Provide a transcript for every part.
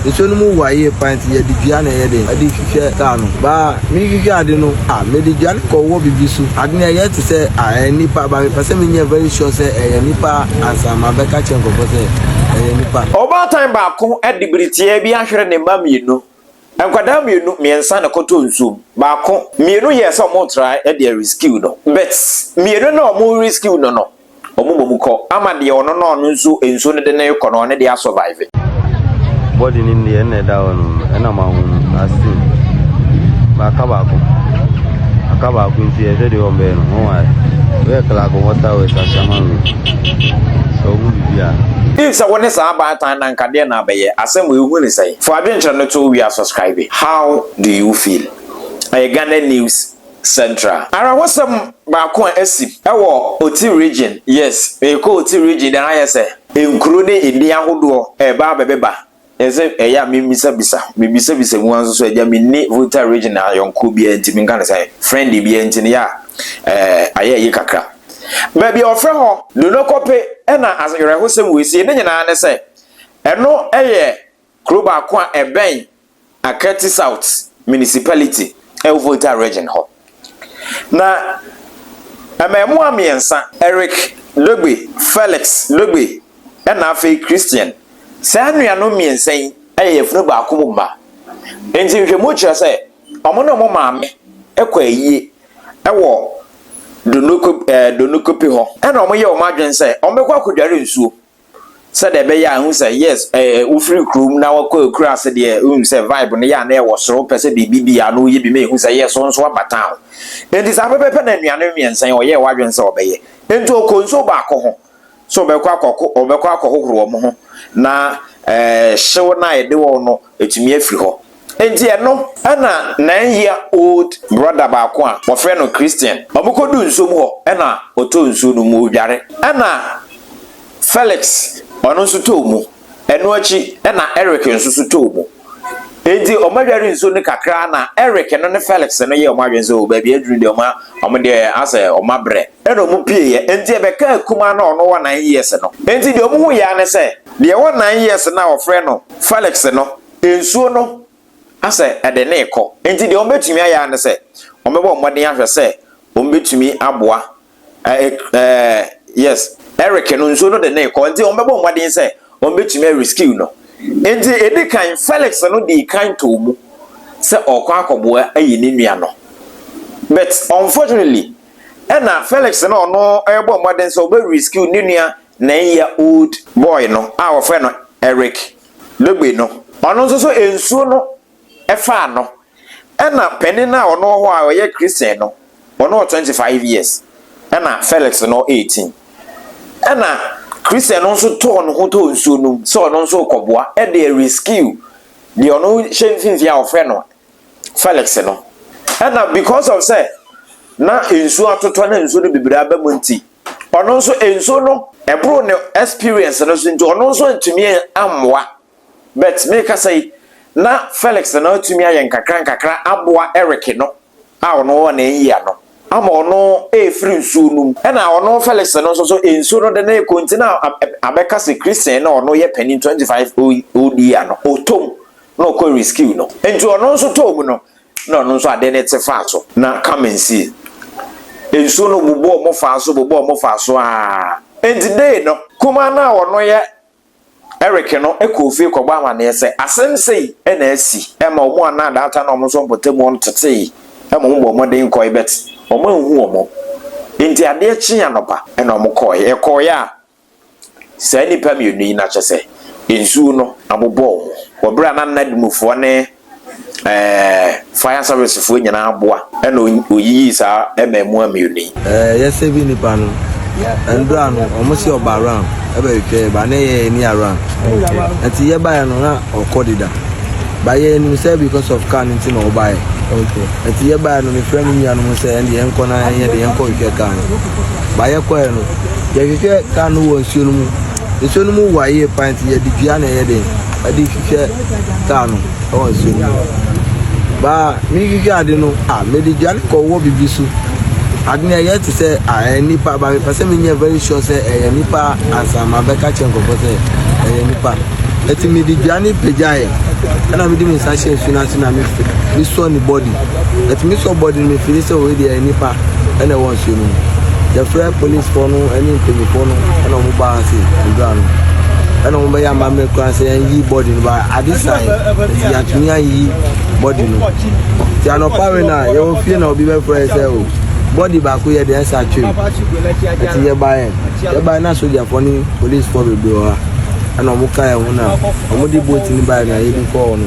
Nsuo no mu wa yie paa nti yɛde dua na ɛyɛ den ɛde hwehwɛ kaa no. Baa mehwehwɛ ade no a mede dua no kɔwɔ biribi so. Ade no ɛyɛ te sɛ a ɛyɛ nipa ba mepɛ sɛ menyɛ very sure sɛ ɛyɛ nipa ansa mabɛka kyerɛ nkurɔfoɔ sɛ ɛyɛ nipa. Ɔbaatan baako de bere tiaa bi ahwere ne mma mmienu. Nkwadaa mmienu, mmiɛnsa na ɛkɔtɔɔ nsuo mu. Baako, mmienu yɛɛ sɛ wɔretra de arescue no but mmienu no a wɔrerescue no no wɔbɔ mu kɔ ama deɛ ɔno na ɔno nso nsuo no de no rekɔ no ɔno deɛ asɔvaive. Body no deɛ ɛna ɛda hɔ no ɛna mahunu ase baaka baako aka baako nti ɛhwɛ deɛ wɔn bɛyɛ no wɔn ayɛ wɔyɛ clark wɔn ta wɔ ɛsasama wɔ sɛ wɔn bibi a. If sɛ wo ne saa baatan na nka deɛ na abɛyɛ asɛm wɔ ehu ne sɛn fo adwenkyerɛ no to wia subscribe how do you feel ɛyɛ Ghana news. Central. Ara hɔsɛm baako a asi wɔ Oti Region. Yes, meekɔ Oti Region de ayɛ sɛ. Nkuro ne edin ahodoɔ reba abɛbeba nso ɛyɛ a mebisabisa. Mebisabisa mu ara nso so agya menni Volta Region ayɔnkoɔ biara nti menka no sɛn, friend biara nti no yɛ a ɛɛ ayɛ ayi kakra. Baabi a wɔfrɛ hɔ Donokope na awerɛhosɛm wɔ sie ne nyinaa ne sɛ ɛno yɛ. Kuro baako a ɛbɛn Akerti South Municipality wɔ Volta Region hɔ. Na mmarimaa mmiɛnsa, Eric Dogbe, Felix Dogbe na afei Christian. Saa nuanom mmiɛnsa yi yɛ yafunu baako mu mma. Enti nhwɛmu kyerɛ sɛ wɔn ne wɔn maame kɔ ayie wɔ Donoko eh, Donokopi hɔ. Ɛna wɔyɛ wɔn adwene sɛ wɔbɛkɔ akɔdware nsuo. Sɛdeɛ ɛbɛyɛ a ɛhu sɛ yes ɛɛ wofiri kurom na wakɔ akura ase deɛ wonim sɛ vibe no yɛ a na ɛwɔ soro pɛ sɛ biribi bi a na woyɛ bi ma ɛhu sɛ yes wo nso aba town. Enti saa pɛpɛpɛ na nnuane mmiɛnsa yi ɔyɛɛ w'adwene sɛ ɔbɛyɛ. Enti ɔkɔ nsuo baako ho sɛ ɔbɛkɔ akɔko ɔbɛkɔ akɔhohoro wɔn ho na ɛɛ hyew no a ɛde wɔn no atumi afiri hɔ. Enti ɛno na nine year old brother baako a wɔfrɛ no Christian, wɔkɔduu nsuo mu hɔ na ɔtɔɔ nsuo no mu, ɔredware. Ɛna Felix ɔno nso tɔɔ mu, ɛno akyi na Eric nso so tɔɔ mu. Enti wɔadware nsuo no kakra ara na Eric no ne Felix no yɛɛ wɔn adwene sɛ o baabi aduru deɛ wɔn wɔn deɛ asɛ wɔn abrɛ. Ɛna wɔpueeɛ, enti ɛbɛkaa akumaa no a ɔno wɔ nine years no. Enti deɛ wɔhuiɛ ara ne sɛ, deɛ ɛwɔ nine years no a wɔfrɛ no Felix no nsuo no asɛ ɛde no rekɔ. Enti deɛ wɔbɛtumi ayɛ ara ne sɛ, wɔbɛbɔ mmɔden ahwɛ sɛ wɔbɛtumi aboa yes, Eric no, nsuo no de no rekɔ, enti wɔbɛbɔ mmɔden sɛ wɔbɛtumi arescue no. Enti ɛdi kan, Felix no dii kan too mu sɛ ɔrekɔ akɔboa ayi ne nua no. But unfortunately, ɛna Felix no ɔno rebɔ mmɔden sɛ ɔbɛ rescue ne nua nine year old boy no a wɔfrɛ no Eric. Logbe no. Ɔno nso so nsuo no faa no ɛna panin a ɔno wɔ hɔ a ɔyɛ Christian no ɔno wɔ twenty five years ɛna Felix no eighteen ɛna Christian no nso tɔɔ ne ho tɔɔ nsuo no mu sɛ ɔno nso rekɔboa ɛde rescue deɛ ɔno hyɛ mfimfini a wɔfrɛ no Felix no ɛna because of sɛ na nsuo atotɔ na nsuo no bebree aba mu nti ɔno nso nsuo no ɛboro ne experience no so nti ɔno nso antumi ammoa but mekasa yi na Felix no atumi ayɛ nkakra nkakra aboa Eric no a ɔno wɔ ne yia no ama ɔno ɛrefiri nsuo no mu ɛna ɔno Felix no nso so nsuo no de ne rekɔ nti na abɛka sɛ Christian na ɔno yɛ panin 25 old year no ɔtɔm na ɔkɔ rescue no nti ɔno nso tɔɔ mu no na ɔno nso ade no te faa so. Na Carmen see, Nsuo no bobɔɔ mu faa so bobɔɔ mu faa so ara. Enti dei no, kumaa no a ɔno yɛ Eric no kɔɔ fie kɔbɔɔ amaneɛ sɛ asɛm sei na asi. Ɛma wɔn a na daata no wɔn nso mpɔtam hɔ no tetee ma wɔbɔɔ mmɔden kɔe but wɔanhu wɔn. Enti adeɛ kyee anɔpa na wɔkɔeɛ. Wɔkɔeɛ a, Saa nnipa mmienu yi, na kyerɛ sɛ nsuo no abobɔ wɔn wɔ berɛ a na nnadumufoɔ ne ɛɛ fire servicefoɔ nyinaa aboa ɛna ɔyiyii saa mmaamua mmienu yi. Ɛɛ yɛsɛ bi nipa no ndora no wɔn si ɔba around ɛbɛ twitwa ba ne yɛ ɛni around ɛti yɛ baeɛ no na ɔkɔ deda ba yɛ ɛnim sɛ because of car no ti na ɔbaeɛ ɛti yɛ baeɛ no mefrɛ me nua no mo sɛ ɛnde yɛnkɔ na yɛde yɛnkɔ twitwa car no. Ba yɛkɔɛ no yɛhwehwɛ kaa no wɔ nsuo no mu nsuo no mu wa yie pa nti yɛde dua na ɛyɛ den ɛde hwehwɛ kaa no ɛwɔ nsuo no mu baa mehwehwɛ ade no a mede dua no kɔwɔ bibi so ade no ɛyɛ te sɛ a ɛyɛ nipa ba mepɛ sɛ menyɛ very sure sɛ ɛyɛ nipa ansa ma bɛka kyerɛ nkɔfɔ sɛ ɛyɛ nipa ɛti mede dua no pagyaeɛ ɛna mede me nsa hyɛ nsuo no ase na mesɔ ne body ɛti mesɔ body no mefiri sɛ wei deɛ ɛyɛ nipa ɛna ɛwɔ Akyire no, yɛfrɛɛ polisfoɔ no ne mpanyinfoɔ no ɛna wɔn baa ase mbra no ɛna wɔn bɛyɛ amammerɛ koraa sɛ yɛn yi bɔdi no ba ade san nti yɛatumi ayi bɔdi no ti anɔpa we na yɛwɔ fie na obi bɛfrɛ sɛ o bɔdi baako yɛ deɛ ɛsa twem ɛti yɛbaeɛ yɛbaeɛ na sogyafoɔ ne polisfoɔ bebree wɔ ha ɛna wɔn ka yɛn ho na wɔn de booti no baeɛ na yɛde kɔɔ no.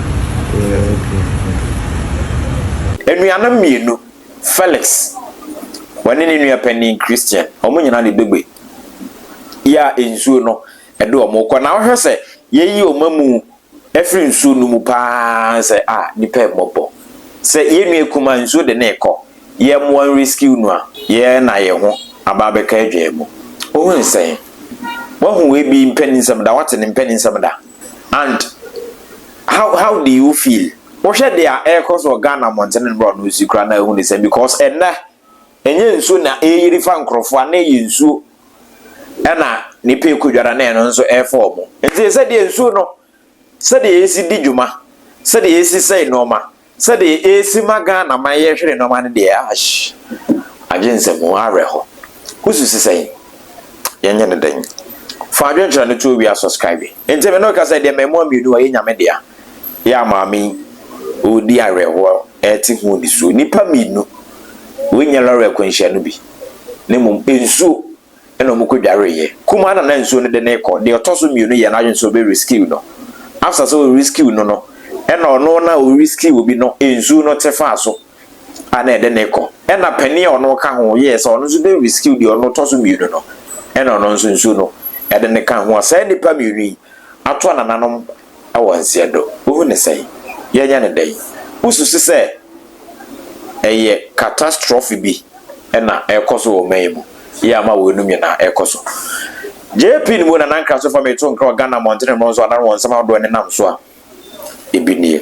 Anuanom mmienu, Felix, ɔne ne nua panin Christian, wɔn nyinaa de begbe yɛ a nsuo no de wɔn rekɔ. Na wohwɛ sɛ yɛyi wɔn amu afiri nsuo no mu paa sɛ a nipa mmɔbɔ. Sɛ yɛn nua kumaa nsuo de no rekɔ, yɛmmoa no rescue no a, yɛn na yɛn ho aba abɛka adwaa mu. Wohu sɛn? Woahu ebi mpaninsɛm da? Woate ne mpaninsɛm da? and how how do you feel wohwɛ deɛ ɛrekɔ so wɔ ghana mmɔntene no bra ɔno nsi kora na ehu ne sɛ because ɛnɛ ɛnyɛ nsuo na ɛreyiri fa nkorɔfoɔ a na ɛyɛ nsuo ɛna nipa ekodwara na ɛno nso ɛrefa wɔn nti sɛdeɛ nsuo no sɛdeɛ yɛsi di dwuma sɛdeɛ yɛsi sɛe nneɛma Sɛdeɛ ɛresi ma Ghana man yɛ hwere nnoɔma no deɛ aahh agye nsam o, awerɛho. Wo susu sɛn? Yɛn nyɛ no dɛn? Fa adwenkyerɛ no to owia subscribe. Nti me ne wo kasa yi deɛ mmaamua mmienu a ɛyɛ Nyame dea yɛ a maame yi ɔredi awerɛhoɔ ɛrete ho nisuo. Nnipa mmienu, wei nyɛ lɔre akwanhyia no bi na mmom nsuo. ɛna wɔkɔ dwareeɛ. Kumaa na na nsuo no de no rekɔ, deɛ ɔtɔ so mmienu yɛɛ n'adwene sɛ ɔbɛ rescue no. After sɛ ɔ rescue no no, ɛna ɔno na ɔ rescue obi no nsuo no te faa so a na ɛde no rekɔ. Ɛna panin a ɔno ɔka ho yɛɛ sɛ ɔno nso bɛ rescue deɛ ɔno ɔtɔ so mmienu no, ɛna ɔno nso nsuo no ɛde no ka ho. Saa nnipa mmienu yi ato anananom. wɔ nseɛ do. Wohu no sɛn? Yɛanya no dɛn? Wosusu sɛ ɛyɛ catastrophe bi na ɛrekɔ so wɔ ɔman yi mu yɛ ama weinom nyinaa rekɔ so? JP no mu na Nankrah so fa meto nkra wɔ Ghana mmɔntene mmorɔn so anaa wɔ nsɛm ahodoɔ a ɛnenam so a, ebi nie.